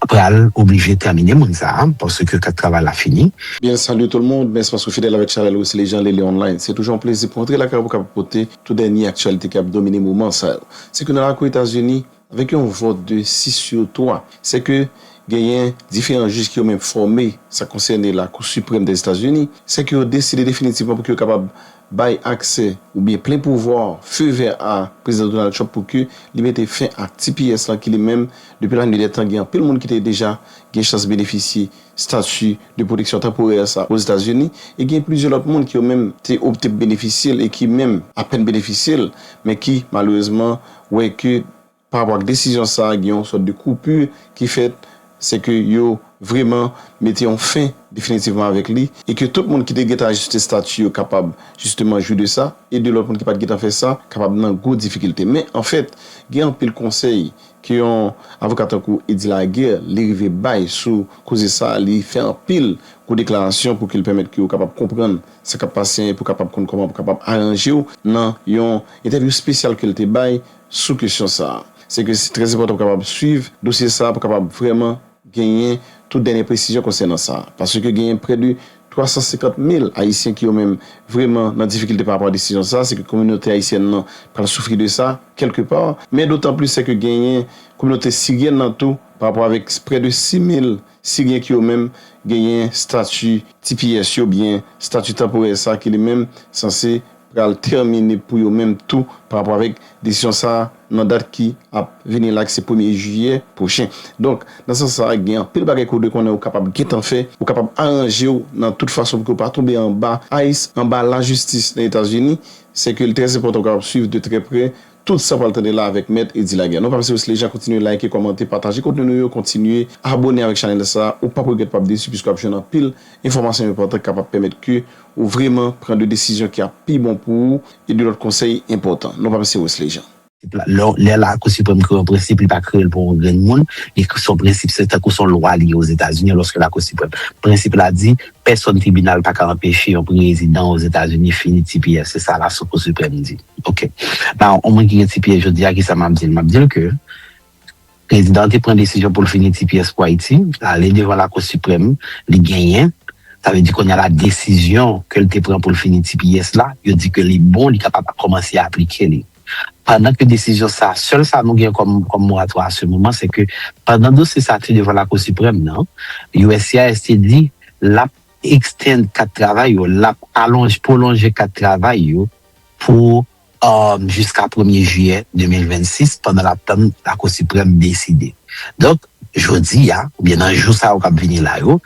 pral oblije tèmine moun sa a paske kat travay la fini. Bien salut tout le monde, mèsi paske w fidèl avèk chanèl Wesley Jean Lele Online. Se toujou yon plezi pou antre lakay ou pou kapab pote tout dènye aktyalite ki ap domine moman sa yo. Se ke nan lakou Etazini, avèk yon vòt de 6 sur 3, se ke genyen diferan jij ki yo menm fòme sa konsène Lakou Siprèm Dèzetazini, se ke yo deside definitivman pou ke yo kapab bay aksè oubyen plen pouvwa feu vert a Prezidan Donald Trump pou ke li mete fen ak tps lan ki li menm depi la nuit dè tan gen anpil moun ki te deja gen chans benefisye stati de pwoteksyon tanporè sa Ozetazini e gen plizyè lòt moun ki yo menm te opte pou benefisye l e ki menm apèn benefisye l men ki malerezman wè ke Pa rapò ak desizyon sa a gen yon sòt de koupu ki fèt, se ke yo vreman mete yon fen definitivman avèk li e ke tout moun ki te gentan ajiste stati yo kapab jisteman jwi de sa e de lòt moun ki pa t gentan fè sa kapab nan gwo difikilte. Men, anfèt, gen anpil konsèy ke yon avoka tankou Eddy Laguerre li rive bay sou koze sa a, li fè anpil gwo deklarasyon pou ke l pèmèt ke ou kapab konprann sa k ap pase e pou kapab konn kòman pou kapab aranje w nan yon entèvyou spesyal ke l te bay sou kesyon sa a. Se ke se trè enpòtan pou kapab swiv dosye sa a pou kapab vrèman genyen tout dènye presizyon konsènan sa. Paske genyen prè de 350 mil Ayisyen ki yo menm vrèman nan difikilte parapò a desizyon sa a, se ke kominote ayisyèn nan pral soufri de sa kèlke pa. Men dotanplis se ke genyen kominote siryèn nan tou parapò avèk prè de 6 mil. Si gen ki yo menm genyen stati tps yo byen stati tanporè sa ki li menm sanse pral tèmine pou yo menm tou pa rapò avèk desizyon sa nan dat ki ap vini la ki se premye jiyè pwochen. Donk, nan sans sa gen anpil bagay ke ou dwe konnen ou kapab gentan fè, ou kapab aranje ou nan tout fason pou ke ou pa tonbe anba ice, anba lajistis nan Etazini, se ke li trè enpòtan ou kapab swiv de trè prè Tout sa pral tande la avèk mèt Eddy Laguerre. Non pa pase Wesley Jacques kontinye like, kòmante, pataje kontni nou yo, kontinye abone avèk chanèl sa, ou pap regrèt pap desi piske wap jwenn anpil enfòmasyon enpòtan ki kapab pèmèt ke ou vreman pran de desizyon ki ap pi bon pou ou e de lòt konsèy enpòtan. Non pa pase Wesley Jean. Lè la kou siprèm kreye yon prensip li pa kreyel pou yon grenn moun li son prensip se tankou son lwa li ye ozetazini alòs ke la kou siprèm prensip la di pèsòn tribinal paka anpeche yon prezidan ozetazini fini tps se sa la kou siprèm di. Ok. Now, on moun ki gen tps jodi a, kisa map dil? Map dil ke Prezidan an te pran desizyon poul fini tps pou Ayiti, l ale devan Lakou Siprèm, li genyen, sa vle di kounye a la desizyon kel te pran poul fini tps la, yo di ke li bon, li kapab kòmanse aplike li. Pandan ke desizyon sa, sèl sa nou gen kòm kòm moratwa a se moman, se ke pandan dosye sa te devan Lakou Siprèm nan, uscis te di lap extend kat travay yo, lap alonj, pwolonje kat travay yo, pou jiska premye jiyè 2026 pandan l ap tann Lakou Siprèm deside. Donk, jodi a, oubyen nan jou sa yo k ap vini la yo,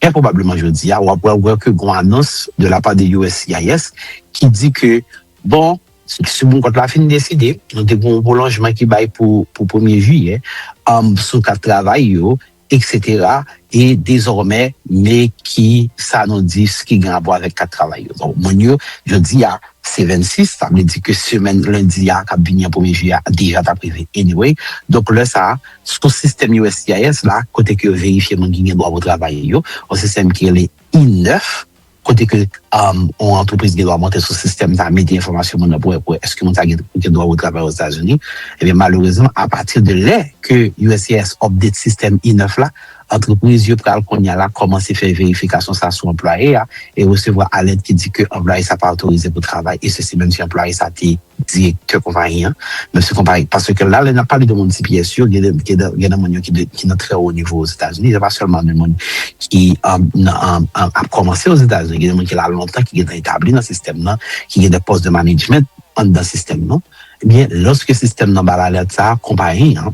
trè pwobableman jodi a, w ap pral wè ke gon anons de la pa de uscis ki di ke, bon, Siprèm Kòt la fin deside, nou te gen yon pwolonjman ki bay pou premye jiyè sou kat travay yo, Etc e dezòmè me ki sa nou di s ki gen rapò avèk kat travay yo donk moun yo jodi a se 26 sa vle di ke semèn lendi a kap vini an premye jiyè a deja tap rive anyway donk lè sa sou sistèm uscis la kote ke yo verifye moun ki gen dwa pou travay yo yon sistèm ki rele I-9 kote ke yon antrepriz gen dwa monte sou sistèm sa, mete enfòmasyon moun nan pou wè èske moun sa gen dwa pou travay Ozetazini, ebyen malerezman apati de lè ke uscis update sistèm I-9 la, antrepriz yo pral kounya la kòmanse fè verifikasyon sa sou anplwaye a e resevwa alèt ki di ke anplwaye sa pa otorize pou travay e sesi menm si anplwaye sa te. Direktè konpayi an, Mesye Konpayi, paske la lè n ap pale de moun CPS yo, gen nan moun yo ki nan trè wo nivo Ozetazini, se pa sèlman de moun ki ap kòmanse Ozetazini, gen de moun ki la lontan, ki gentan etabli nan sistèm nan, ki gen de pòs de manedjment anndan sistèm nan, ebyen, lòske sistèm nan ba l alèt sa a, konpayi an.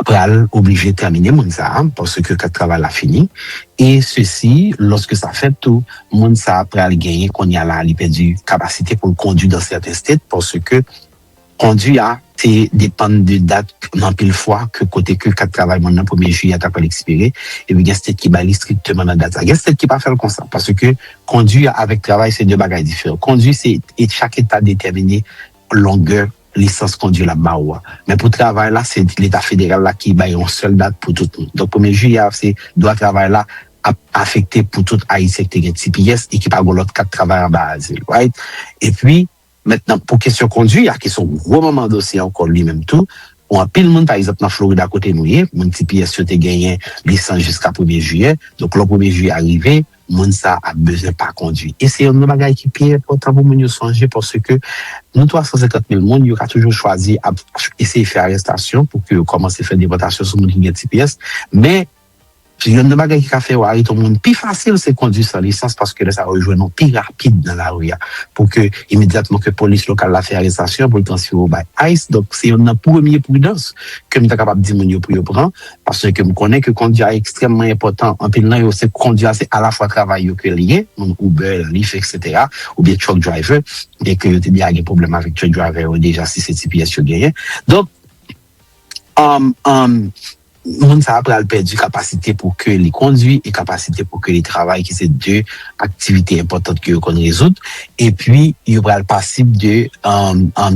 pral oblije tèmine moun sa a paske kat travay la fini e sesi lòske sa fèt tou moun sa a pral genyen konnya la li pèdi kapasite pou l kondwi dan sèten state paske kondwi a te depann de dat anpil fwa ke kote ke kat travay moun nan premye jiyè a ta pral ekspire epi gen state ki bay li strikteman nan dat sa a gen state ki pa fè l konsa paske kondwi a avèk travay se de bagay diferan kondwi se e chak eta detèmine longè lisans kondwi l ap ba ou a. Men pou travay la, se Leta federal la ki bay yon sèl dat pou tout moun. Donk premye jiyè a, se dwa travay la ap afekte pou tout Ayisyen ki te gen tps e ki pa gen yon lòt kat travay anba azil. Right? Epi, mentnan pou kesyon kondwi a, ki se yon gwo manman dosye ankò li menm tou, pou anpil moun, pa egzanp nan Florida kote nou ye, moun tps yo te genyen lisans jiska premye jiyè. Donk lò premye jiyè a rive, moun sa a ap bezwen pa kondwi. E se youn nan bagay ki pi enpòtan pou moun yo sonje paske nou 350 mil moun, yo ka toujou chwazi ap eseye fè arestasyon pou ke yo kòmanse fè depòtasyon sou moun ki gen tps. Men, youn nan bagay ki ka fè yo arete yon moun pi fasil se kondwi san lisans paske lè sa a yo jwenn ou pi rapid nan lari a pou ke imedyatman ke polis lokal la fè arestasyon pou l transfere w bay ice. Donk, se youn nan premye pridans ke m ta kapab di moun yo pou yo pran. Paske m konnen ke kondi a ekstrèmman enpòtan, anpil nan yo se kondi a se alafwa travay yo ke li ye, moun Uber, Lyft etc. Oubyen truck driver, byen ke yo te deja gen pwoblèm avèk truck driver yo deja si se tps yo genyen. Donk moun sa a pral pèdi kapasite pou ke li kondi e kapasite pou ke li travay ki se 2 aktivite enpòtant ke yo konn rezoud. Epi yo pral pasib de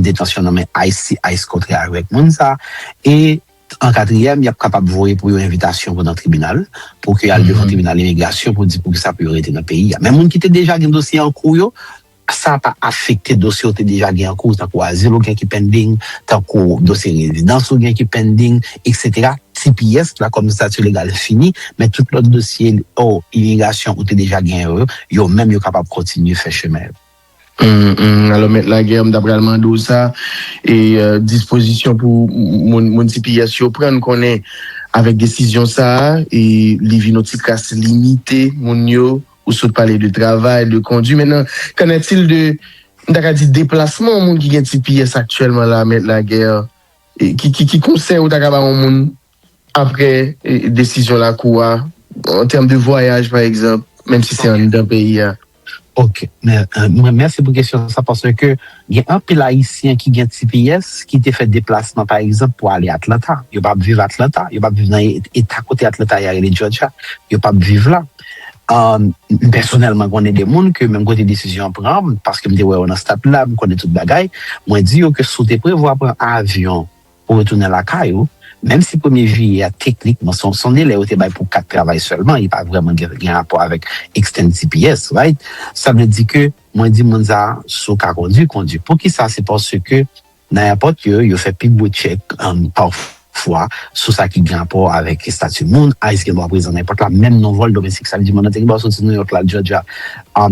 detansyon nan men ice si ice kontre avèk moun sa a. E An katriyèm, y ap kapab voye pou yo envitasyon pou nan tribinal, pou ke y al devan tribinal imigrasyon pou di poukisa pou yo rete nan peyi a. Men moun ki te deja gen dosye an kou yo, sa pa afekte dosye ou te deja gen an kou, tankou azil ou gen ki pending, tankou dosye rezidans ou gen ki pending, eksetera. Tps la kòm stati legal fini, men tout lòt dosye imigrasyon ou te deja genyen yo, yo menm yo kapab kontinye fè chemen yo. Humm alò mèt lagè mta pral mande w sa e dispozisyon pou moun tps yo pran n konnen avèk desizyon sa e li vin yon ti kras limite moun yo ou sot pale de travay de kondwi men nan kanètil de mta ka di deplasman moun ki gen tps aktyèlman la mèt lagè ki konsèy ou ta ka ba yon moun Aprè desizyon lakou a, an tèm de vwayaj pa egzanp, menm si se anndan peyi a. Ok. Mèsi pou kesyon sa paske gen anpil ayisyen ki gen tps ki te fè deplasman pa egzanp pou ale Atlanta. Yo pa ap viv Atlanta, yo pa ap viv nan eta kote Atlanta ye a rele Jòjya. Yo pa ap viv la. M pèsonèlman konnen de moun ke menm kote desizyon an pran, paske m te wè yo nan stad la, m konnen tout bagay, mwen di yo ke si w te prevwa pran avyon, pou retounen lakay ou, menm si premye jiyè a teknikman se yon delè yo te bay pou kat travay sèlman, li pa vrèman gen rapò avèk extend tps, right? Sa vle di ke mwen di moun sa a, si w ka kondwi, kondwi. Poukisa? Se paske nan èpòt yo, yo fè pi gwo tchèk pafwa sou sa ki gen rapò avèk estati moun, ice gen dwa prezan nan èpòt la, menm nan vòl domestik. Sa vle di moun nan te gen dwa soti Nouyòk la al Jòjya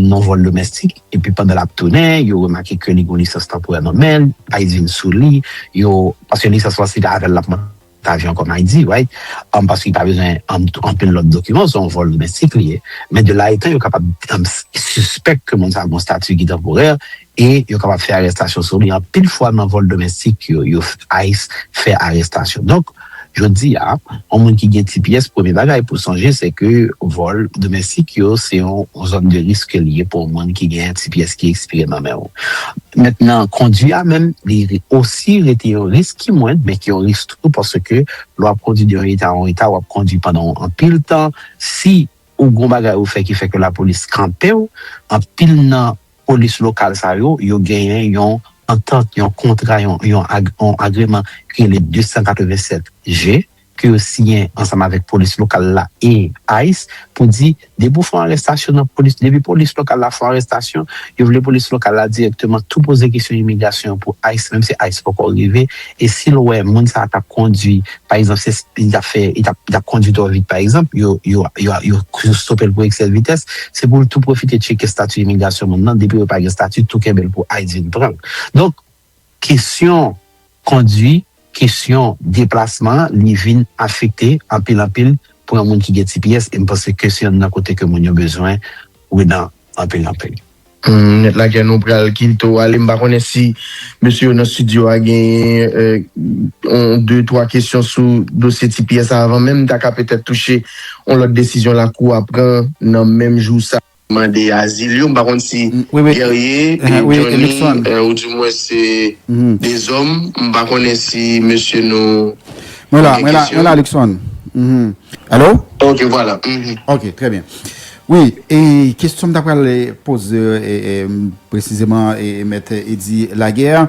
nan vòl domestik. epi pandan lap tounen yo remake ke li gen yon lisans tanporè nan menl, ice vin sou li, yo, paske lisans lan se pa avèl lap monte avyon kòm ice right, paske li pa bezwen anpil lòt dokiman, se yon vòl domestik li ye, men de la etan yo kapab sispèk ke moun sa gen yon stati ki tanporè e yo kapab fè arestasyon sou li, anpil fwa nan vòl domestik yo ice fè arestasyon donk. Jodi a, yon moun ki gen ti pyès premye bagay pou sonje se ke vòl domèstik yo se yon zòn de risk ke li ye pou yon moun ki gen ti pyès ki ekspire nan men ou. Mèt nan kondwi a menm li osi rete yon risk ki mwend men ki yon risk tou paske lè w ap kondwi de yon eta a yon eta w ap kondwi pandan yon anpil tan si ou gen yon bagay ou fè ki fè ke lapolis kanpe w anpil nan Polis lokal sa yo, yo genyen yon antant, yon kontra, yon agreman ki rele 287 G ke yo siyen ansanm avèk polis lokal la e ice pou di depi ou fè yon arestasyon nan polis, depi polis lokal la fè yon arestasyon, yo vle polis lokal la dirèkteman tou poze kesyon imigrasyon pou ice menm si ice poko rive e si l wè moun sa a t ap kondwi Pa egzanp, si li t ap fè, li t ap kondui twò vit pa egzanp, yo stope l pou eksè vitès, se pou l tou pwofite tcheke stati imigrasyon moun nan, depi yo pa gen stati, tou kenbe l pou ice vin pran l. Donk, kesyon kondui, kesyon deplasman, li vin afekte anpil anpil pou yon moun ki gen tps e m panse ke se yonn nan kote ke moun yo bezwen ou nan anpil anpil. Net lagè nou pral kilto ale m pa konnen si mesye yo nan studio a genyen yon de twa kesyon sou dosye ti pyè sa avan menm ta ka petèt touche yon lòt desizyon lakou a pran nan menm jou sa mande azil yo m pa konn si Guerrier e Johnny ou di mwen se de zòm m pa konnen si mesye nou mwen la mwen la mwen la Luckson alo ok vwala ok trè byen. Wi, e kestyon m ta pral poze presizeman mèt Eddy Laguerre,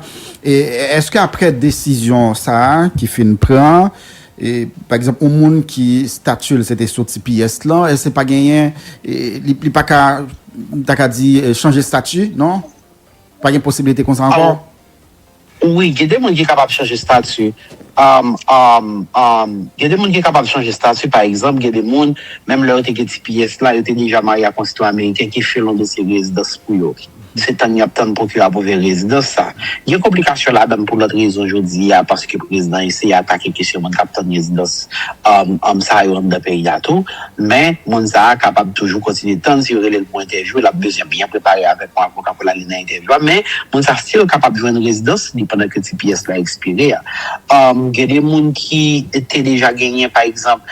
eske aprè desizyon sa ki fin pran, pa egzanp yon moun ki stati l se te sou tps lan, èske pa genyen, li pa ka, m ta ka di chanje stati non? Pa gen posibilite konsa ankò? Wi gen de moun ki kapab chanje stati um um um gen de moun ki kapab chanje stati pa egzanp gen de moun menm lè yo te gen tps la yo te deja marye ak yon sitwayen ameriken ki fè l yon dosye rezidans pou yo se tann yap tann pwokirè apwouve rezidans sa gen konplikasyon ladann pou lòt rezon jodi a paske prezidan eseye atake kesyon moun kap tann rezidans um um sa yo anndan peyi a tou. Men, moun sa a kapab toujou kontinye tann si yo rele l pou entèvyou. L ap bezwen byen prepare avèk yon avoka pou l ale nan entèvyou a. Men, moun sa a stil kapab jwenn rezidans li pandan ke tps la ekspire a. Gen de moun ki te deja genyen, pa egzanp,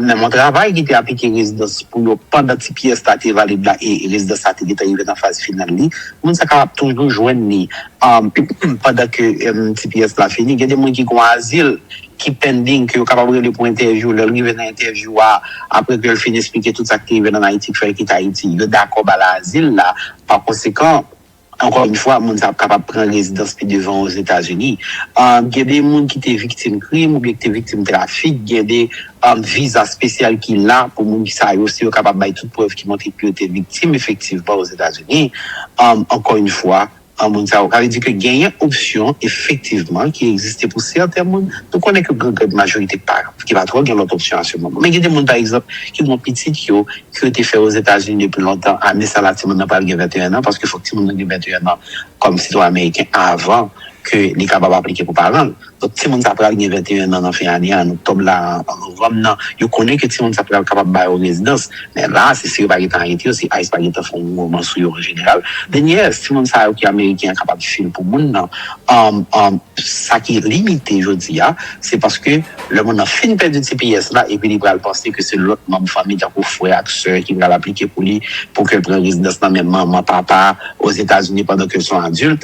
menm yon travay ki te aplike rezidans pou yo pandan tps la te valid la e rezidans la te gentan rive nan faz final li. Moun sa a kapab toujou jwenn li pandan ke tps la fini. Gen de moun ki gen yon azil ki pending ke yo kapab rele pou entèvyou lè l rive nan entèvyou a apre ke l fin esplike tout sa k te rive l an Ayiti k fè l kite Ayiti yo dakò ba l azil la pakonsekan ankò yn fwa moun sa ap kapab pran rezidans pi devan Ozetazini Gen de moun ki te viktim krim oubyen ki te viktim trafik gen de viza spesyal ki la pou moun sa yo si yo kapab bay tout prèv ki montre ke yo te viktim efektivman Ozetazini Ankò yn fwa. An moun sa yo. Sa vle di ke genyen opsyon efektivman ki egziste pou sèten moun. Nou konnen ke gen grande majorite ki pa ki pa twò gen lòt opsyon a se moman. Men gen de moun pa egzanp ki gen yon pitit yo ke yo te fè Ozetazini depi lontan. Ane sa la ti moun nan pral gen 21 an paske fòk ti moun nan gen 21 an kòm sitwayen ameriken avan ke li kapab aplike pou paran l. Donk timoun sa pral gen 21 nan nan fen ane an oktòb la an novanm nan yo konnen ke timoun sa pral kapab ba yo rezidans men la se si yo pa gentan arete yo si ice pa gentan fè yon moman sou yo an jeneral men yes timoun sa yo ki ameriken an kapab fil pou moun nan an sa ki limite jodi a se paske lè moun nan fin pèdi tps la epi li pral panse ke se lòt manm fanmi tankou frè ak sè ki pral aplike pou li pou ke l pran rezidans nan men manman papa ozetazini pandan ke l son adilt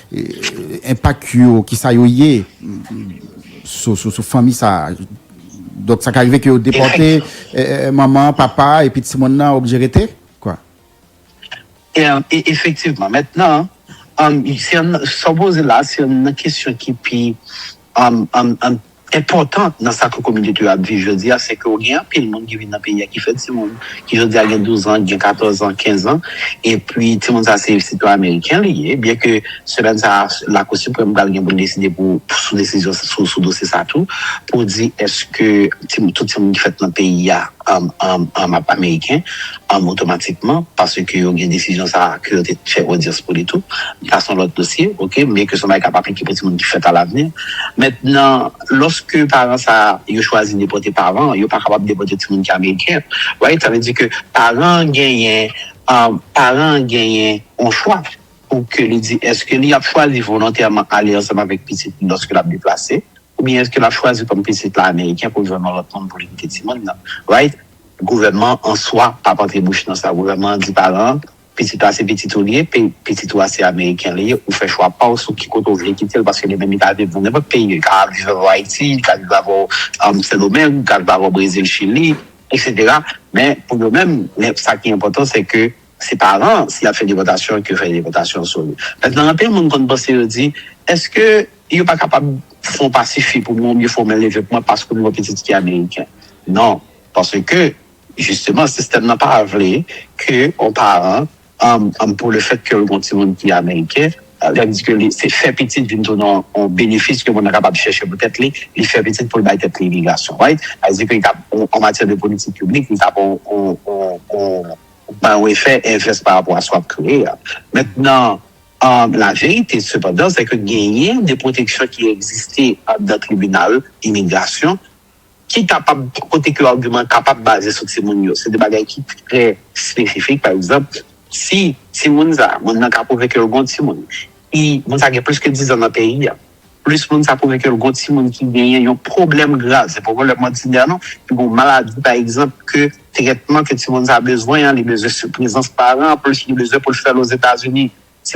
Enpak yo, ki sa yo ye sou fanmi sa a? Donk sa ka rive ke yo depòte manman, papa epi ti moun nan oblije rete? Efektivman. Mètnan, sa w poze la se yon nan kesyon ki pi enpòtan nan sa ke kominote yo ap viv jodi a, se ke ou gen anpil moun ki vin nan peyi a ki fè timoun, ki jodi a gen douzan, ki gen katòzan, kenzan, epi timoun sa se sitwayen ameriken li ye, byen ke semèn sa a Lakou Siprèm pral gen pou l deside pou, sou desizyon, sou dosye sa a tou, pou di èske tout timoun ki fèt nan peyi a, ap ameriken otomatikman paske yo gen desizyon sa ke yo te fè odyans pou li tou sa son lòt dosye ok men ke son bagay kap aplike pou timoun ki fèt alavni mentnan lòske paran sa yo chwazi depòte paran an yo pa kapab depòte timoun ki ameriken right sa vle di ke paran an genyen paran an genyen yon chwa pou ke li di eske li ap chwazi volontèman ale ansanm avèk pitit li lòske lap deplase. Oubyen eske lap chwazi kòm pitit la ameriken poul jwenn yon lòt moun poul edike timoun nan right gouvènman an swa pap antre bouch nan sa gouvènman an di paran an pitit la se pitit ou li ye pe pitit ou a se ameriken li ye ou fè chwa paw sou ki kote ou vle kitel paske li menm li ka viv nan nenpòt peyi li ka viv avèw ayiti li ka viv avèw sendomeng li ka viv avèw brezil chili etc men pou yo menm sa ki enpòtan se ke Se paran an si yap fè depòtasyon ke fè depòtasyon sou li. Mètnan anpil moun konn panse yo di eske yo pa kapab fon pa sifi pou mwen oubyen fon men leve pou mwen paske m gon pitit ki ameriken. Non paske jisteman sistèm nan pa vle ke on paran an pou le fèt kel gon timoun ki ameriken lèl di ke li se fè pitit vin tounen on benefis ke moun nan kapab chèche pou tèt li, li fè pitit poul bay tèt li imigrasyon right? Sa vle di ke li tap an matyè de politik piblik li tap on. Ou pa dwe fè envès pa rapò a sa w ap kreye a. Mentnan, laverite sepandan se ke genyen de pwoteksyon ki egziste anndan tribinal imigrasyon ki kapab, kote ke agiman kapab baze sou timoun yo. Se de bagay ki trè espesifik. Pa egzanp, si timoun sa a, moun nan ka pwouve ke l gen yon timoun, si moun sa a gen plis ke dizan nan peyi a, Plis moun sa pwouve ke l gon timoun ki genyen yon pwoblèm grav. Se poko lè mòdinè non. Li gon maladi pa egzanp ke trètman ke timoun sa bezwen an, li bezwen sou prezans paran an, plis li bezwen pou l fè l Ozetazini. Se.